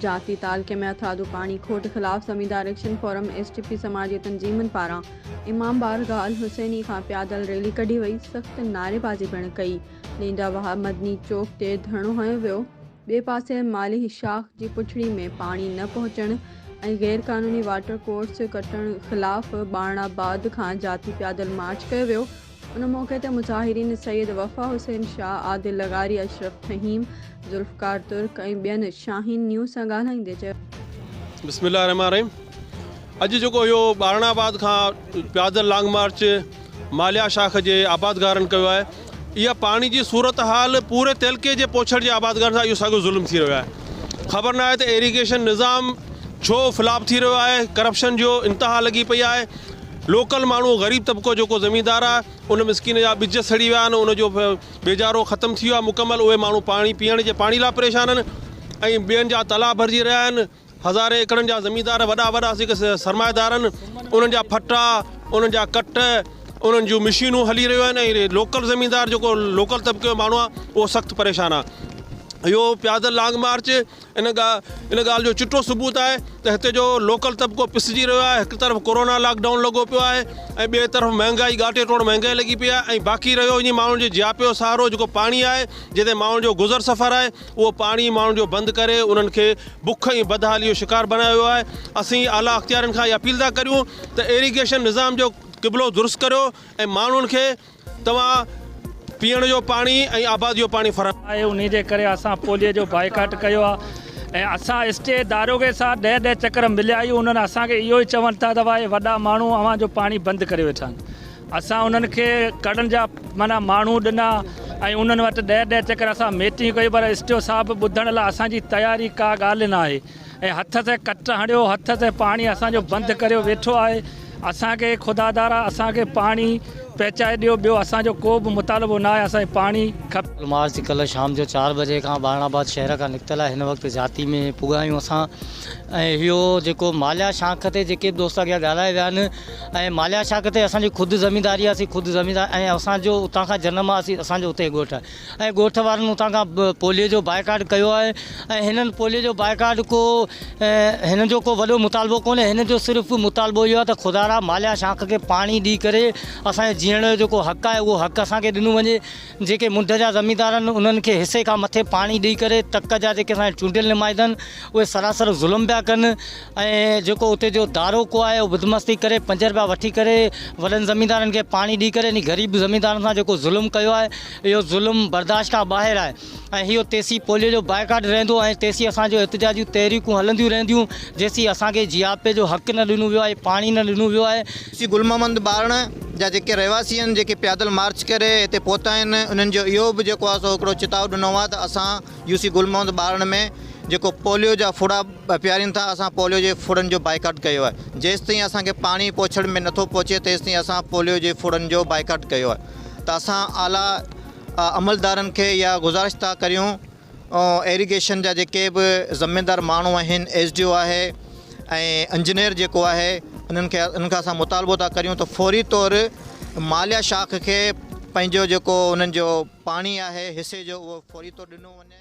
جاتي تعلقي ۾ هٿرادو پاڻي کوٽ خلاف زميندار action forum S T P سماجي تنظيمن پاران امام بارگاهه الحسيني کان پيادل ريلي ڪڍي وئي سخت نعريبازي پڻ ڪئي ويندي وهاء مدني چوڪ تي ڌرڻو هنيو ويو ٻئي پاسي مالهي شاخ جي پڇڙي ۾ پاڻي نه پهچڻ ۽ غير قانوني واٽر ڪورس ڪٽڻ خلاف ٻاڻ آباد کان جاتي پيادل مارچ ڪيو ويو ان موقعي تي مظاهرين سيد وفا حسين شاهه، عادل لغاري، اشرف فهيم، ذوالفقار ترڪ ۽ ٻين شاهين نيوز سان ڳالهائيندي چيو. بسم الله الرحمٰن الرحيم اڄ جيڪو اهو ٻارڻ آباد کان پيادل لانگ مارچ ماليا شاخ جي آبادگارن ڪيو آهي اها پاڻي جي صورتحال پوري تعلقي جي پوڇڙ جي آبادگارن سان اهو ساڳيو ظلم ٿي رهيو آهي خبر ناهي ته ايريگيشن نظام ڇو فلاپ ٿي رهيو آهي ڪرپشن جو انتها لڳي پئي آهي لوڪل ماڻهو غريب طبقو جيڪو زميندار آ ان مسڪين جا ٻج سڙي ويا آهن ان جو بيجارو ختم ٿي ويو آهي مڪمل اهي ماڻهو پاڻي پيئڻ جي پاڻي لاء پريشان آهن ۽ ٻين جا تلا ڀرجي رهيا آهن هزارين ايڪڙن جا زميندار وڏا وڏا جيڪي سرمائيدار آهن انهن جا ڦٽا انهن جا ڪٽ انهن جون مشينون هلي رهيون آهن ۽ لوڪل زميندار جيڪو لوڪل طبقي جو ماڻهو آ اهو سخت پريشان آ اهو پيادل لانگ مارچ ان ڳالهه جو چٽو ثبوت آهي ته هتي جو لوڪل طبقو پسجي رهيو آهي، هڪ طرف ڪورونا لاڪ ڊائون لڳو پيو آهي ۽ ٻئي طرف مهانگائي ڳاٽي ٽوڙ مهانگائي لڳي پئي آهي ۽ باقي رهيو انهي ماڻهن جي جياپي جو سهارو جيڪو پاڻي آهي جنهن تي ماڻهن جو گذر سفر آهي اهو پاڻي ماڻهن جو بند ڪري انهن کي بک ۽ بدحالي جو شڪار بنايو ويو آهي اسين اعليٰ اختيارين کان اهي اپيل ٿا ڪريون ته ايريگيشن نظام جو قبلو درست ڪريو ۽ ماڻهن کي توهان پيئڻ جو پاڻي ۽ آباد جو پاڻي فراهم. آهي انهي جي ڪري اسان پولي جو بائيڪاٽ ڪيو آهي ۽ اسان اسٽي داروغي سان ڏهه ڏهه چڪر مليا آهيون انهن اسان کي اهو ئي چوڻ ٿا ته اهي وڏا ماڻهو اوهان جو پاڻي بند ڪري ويٺا آهن اسان انهن کي ڪڙن جا معنيٰ ماڻهو ڏنا ۽ انهن وٽ ڏهه ڏهه چڪر اسان ميٽنگ ڪئي پر اسٽيو صاحب ٻڌڻ لاء اسان جي تياري ڪا ڳالهه ناهي. ۽ هٿ تي ڪٽ هڻيو هٿ تي پاڻي اسان جو بند ڪريو ويٺو آهي اسان کي خدا دارا اسان کي پاڻي پهچائي ڏيو ٻيو اسان جو ڪو به مطالبو ناهي اسان کي پاڻي کپي. الماس جي ڪلهه شام جو چار بجي کان ٻارڻ آباد شهر کان نڪتل آهي هن وقت جاتي ۾ پڳا آهيون اسان ۽ اهو جيڪو ماليا شاخ تي جيڪي به دوست اڳيان ڳالهائي ويا آهن ۽ ماليا شاخ تي اسان جي خود زمينداري آهي اسين خود زميندار ۽ اسان جو اتان کان جنم آهي اسان جو اتي ڳوٺ آهي ۽ ڳوٺ وارن اتان کان پوليو جو بائيڪاٽ ڪيو آهي ۽ هنن پوليو جو بائيڪاٽ ڪو هنن جو ڪو وڏو مطالبو ڪونهي هنن جو صرف مطالبو اهو آهي ته خدارا ماليا شاخ کي پاڻي ڏئي ڪري اسان جي جيئڻ جو جيڪو حق آهي اهو حق اسان کي ڏنو وڃي جيڪي منڍ جا زميندار آهن انهن کي حصي کان مٿي پاڻي ڏئي ڪري تڪ جا جيڪي اسان جا چونڊيل نمائندن اهي سراسر ظلم پيا ڪن ۽ جيڪو اتي جو دارو ڪو آهي اهو بدمستي ڪري پنج رپيا وٺي ڪري وڏن زميندارن کي پاڻي ڏئي ڪري انهي غريب زميندارن سان جيڪو ظلم ڪيو آهي اهو ظلم برداشت کان ٻاهر آهي ۽ اهو تيسين پوليو جو بائيڪاٽ رهندو ۽ تيسين اسان جو احتجاجيون تحريڪون هلنديون رهنديون جيسين اسان کي جياپي جو حق نه ڏنو ويو آهي پاڻي نه ڏنو ويو آهي. سي گل محمد ٻارڻ جا جيڪي رهواسي آهن جيڪي پيادل مارچ ڪري هتي پهتا آهن انهن جو اهو به جيڪو آهي سو هڪڙو چتاء ڏنو آهي ته اسان يو سي گل محمد ٻارڙن ۾ جيڪو پوليو جا ڦڙا پيارين ٿا اسان پوليو جي ڦڙن جو بائيڪاٽ ڪيو آهي جيستائين اسان کي پاڻي پوڇڙ ۾ نٿو پهچي تيستائين اسان پوليو جي ڦڙن جو بائيڪاٽ ڪيو آهي ته اسان اعليٰ عملدارن کي اها گذارش ٿا ڪريون ايريگيشن جا جيڪي به ذميدار ماڻهو آهن ايس ڊي او آهي ۽ انجنيئر جيڪو آهي انهن کي انهن کان اسان مطالبو ٿا ڪريون ته فوري طور ماليا شاخ کي پنهنجو جيڪو انهن جو پاڻي آهي حصي جو اهو فوري طور ڏنو وڃي.